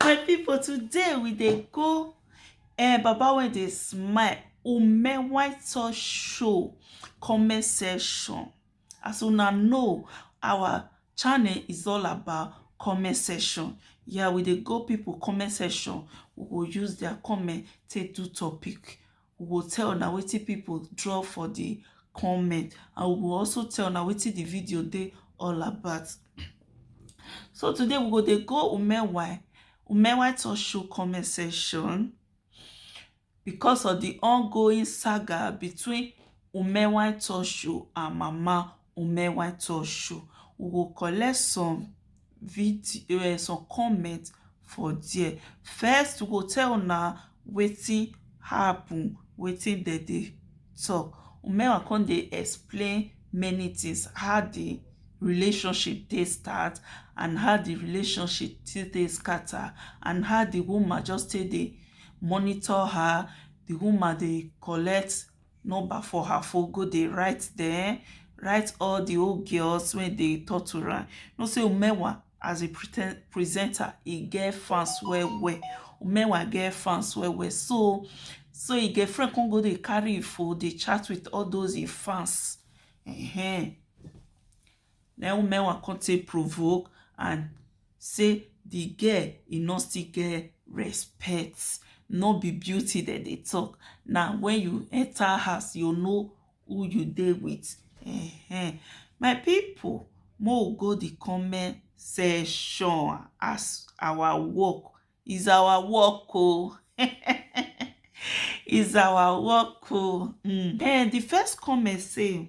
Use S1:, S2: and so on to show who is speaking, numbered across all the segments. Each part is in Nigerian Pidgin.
S1: my people today we dey go eh, baba wey dey smile ume white sauce show comment section as una know our channel is all about comment section yeah we dey go people comment section we go use their comment take do topic we go tell na wetin people draw for the comment and we go also tell na wetin the video dey all about so today we go dey go umewa umewa talk show comment section because of the ongoing saga between umewa talk show and mama Women White Talk Show. We go collect some video eh, some comment for there. First, we go tell una wetin happen, wetin dem dey talk. Umewa come dey explain many things, how the relationship take start and how the relationship take dey scatter and how the woman just take dey monitor her, the woman dey collect number for her phone go dey write dem write all the old girls wey dey torture am know say umewa as a presenter e get fans well well umewa get fans well well so so e get friend come go dey carry e phone dey chat with all those e fans uh -huh. na im Mewa come take provoke and say the girl e no still get respect no be beauty dem dey talk na when you enter house you know who you dey with uh-huh. my people mo go the comment section as our work is our work oh is our work oh mm. and eh, the first comment say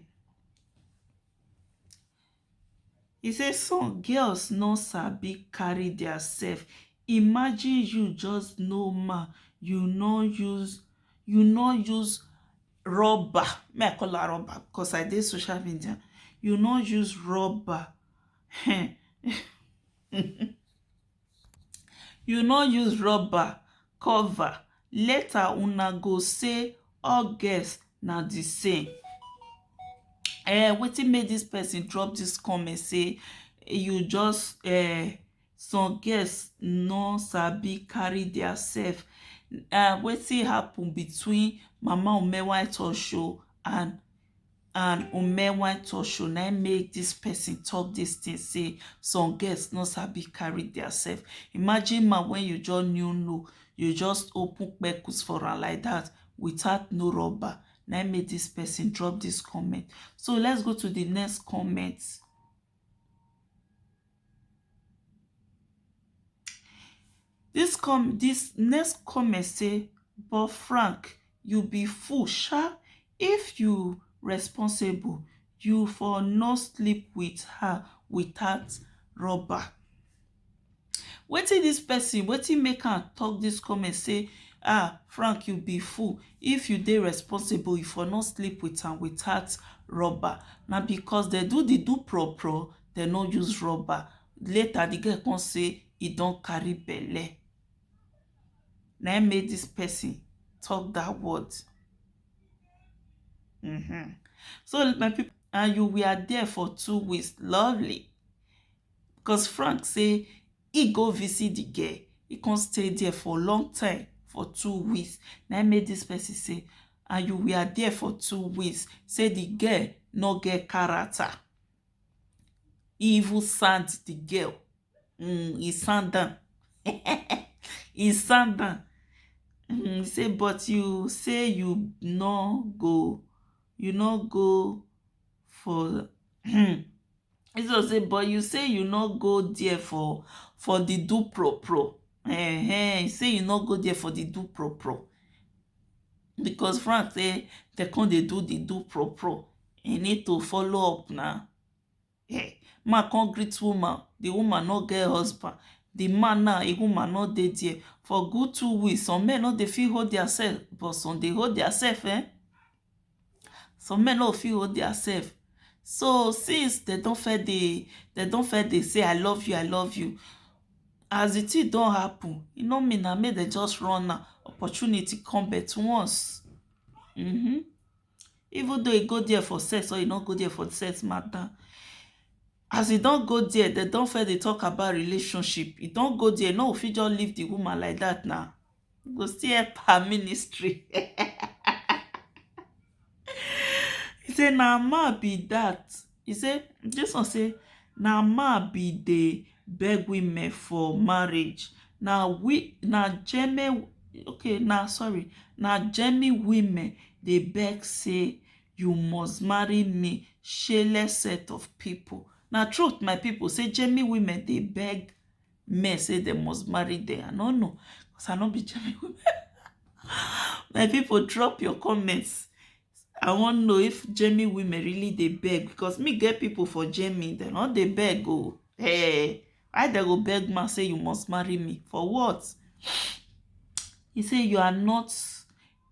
S1: He say some girls no sabi carry their self imagine you just normal you no use you no use rubber me I call am rubber because I dey social media you no use rubber um you no use rubber cover later una go say all girls na the same um wetin make this person drop this comment say you just um some girls no sabi carry their self um wetin happen between mama omewa etoso and and Ume wan talk show na im make this person talk this thing say some girls no sabi carry their self imagine man when you just new know you just open kpekus for am like that without no rubber na im make this person drop this comment so let's go to the next comment Dis next comment say but Frank you be fool sha if you responsible you for no sleep with her without rubber wetin dis person wetin make am talk dis comment say ah Frank you be fool if you dey responsible you for no sleep with am without rubber na because dem do the do pro pro dem no use rubber later the girl come say e don carry belle na im make this person talk that word um so my people and you were there for two weeks lovely cos Frank say he go visit the girl he come stay there for long time for two weeks na im make this person say and you were there for two weeks say the girl no get character e even send di girl um e send am um e send am um say but you say you no go you no go for um but you say you no go dia for for di dupropo um e say e no go dia for di dupropo becos franz say dem come dey do di dupropo He need to follow up na. Hey, man come greet woman. The woman no get husband. The man now, a woman no dey there. For good two weeks, some men no dey fit hold their self, but some dey hold their self, eh? Some men no fit hold their self. So since they don't fair dey, they don't fair dey say I love you, I love you. As the thing don't happen, you know me now, make they just run now. Opportunity come but once. Mm-hmm. even though e go dia for sex or e no go dia for sex mata as e don go dia dem don first dey tok about relationship e don go dia e no go fit just leave di woman like dat na e go still epp her ministry say na man be dat He say dis one say na man be dey beg women for marriage na we na jeme okay na sorry na jemi women dey beg say you must marry me shele set of pipu na truth my pipu say jemi women dey beg men say dem must marry dem I no know cause I no be jemi women my pipu drop your comment I wan know if Germany women really dey beg because me get people for Germany, they no dey beg oh. Hey, eh, why they go beg man say you must marry me? For what? He say you are not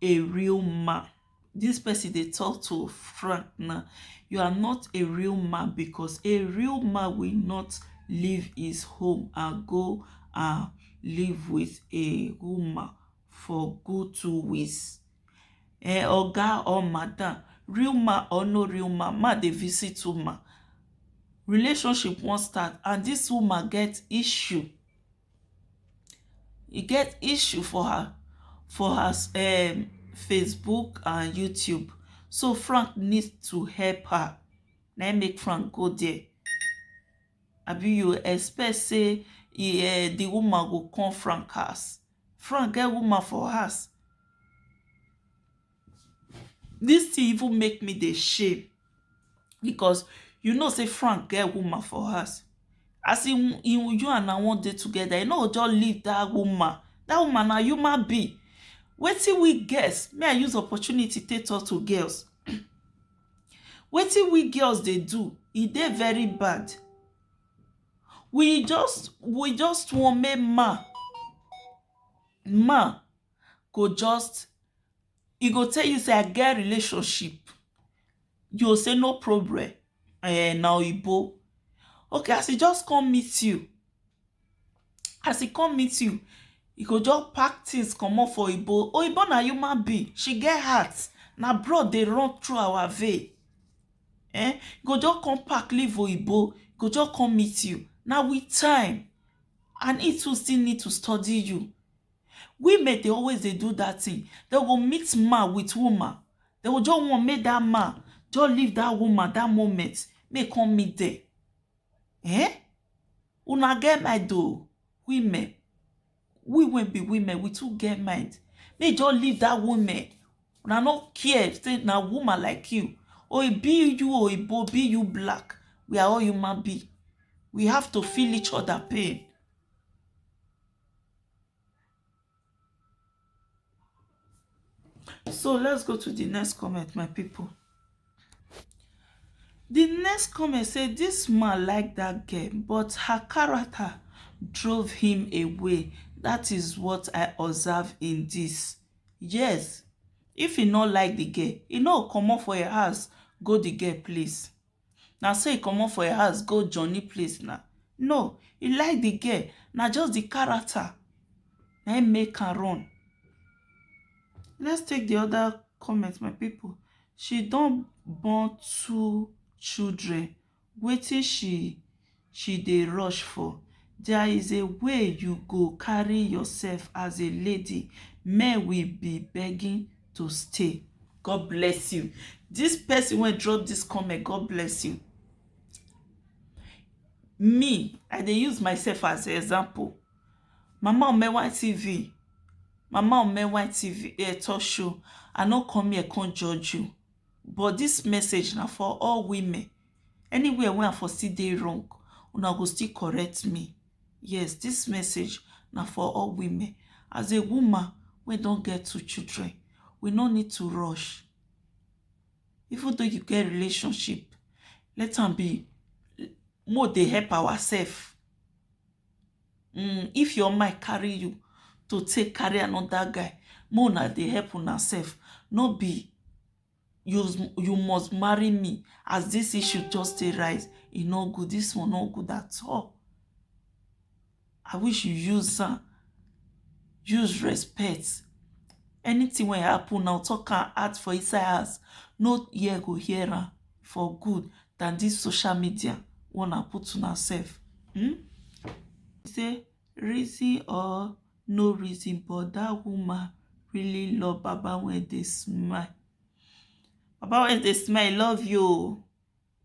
S1: a real man. This person they talk to Frank now. You are not a real man because a real man will not leave his home and go and live with a woman for good two weeks eh oga or madam real man or no real man man dey visit woman relationship wan start and this woman get issue e get issue for her for her um Facebook and YouTube so Frank need to help her na im make Frank go there abi you expect say e um the woman go come Frank house Frank get woman for house. This thing even make me dey shame because you know say Frank get woman for house. As in, in you and I wan dey together, you no go just leave that woman. That woman na human being. Wetin we girls, may I use opportunity take talk to girls. Wetin we girls dey do, e dey very bad. we just we just want make man man go just e go tell you say I get relationship you go say no problem um na oyibo okay as e just come meet you as e come meet you e go just pack things comot for oyibo oyibo na human being she get heart na blood dey run through our vein eh go just come pack leave oyibo go just come meet you na with time and he too still need to study you women dey always dey do that thing they go meet man with woman they go just want make that man just leave that woman that moment make e come meet them eh Una get mind o women we wey be women we too get mind make you just leave that women una no care say na woman like you or e be you oyibo be you black we are all human being we have to feel each other pain so let's go to the next comment my people the next comment say this man like that girl but her character drove him away that is what i observe in this yes if he not like the girl he no comot for your house go the girl place Na so he comot for e house go johnny place na, no he like the girl na just the character na him make am run. Let's take the other comment my people, she don born two children wetin she she dey rush for there is a way you go carry yourself as a lady men will be begging to stay. God bless you this person wey drop this comment God bless you me I dey use myself as example mama omewa tv mama omewa tv eh, talk show I no come here come judge you but this message na for all women anywhere wey i for still dey wrong una go still correct me yes this message na for all women as a woman wey don get two children we no need to rush even though you get relationship let am be more dey help ourselves mm, if your mind carry you to take carry another guy more una dey help una self no be you you must marry me as this issue just dey rise e no good this one no good at all i wish you use am use respect anything wey happen now talk am out for inside house no ear go hear am for good than this social media una put una sef hmm say reason or no reason but dat woman really love baba wey dey smile baba wey dey smile love you oo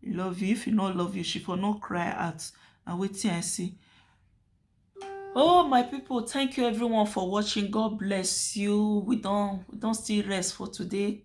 S1: e love you if e no love you she for no cry out na wetin i see oh my people thank you everyone for watching god bless you we don we don still rest for today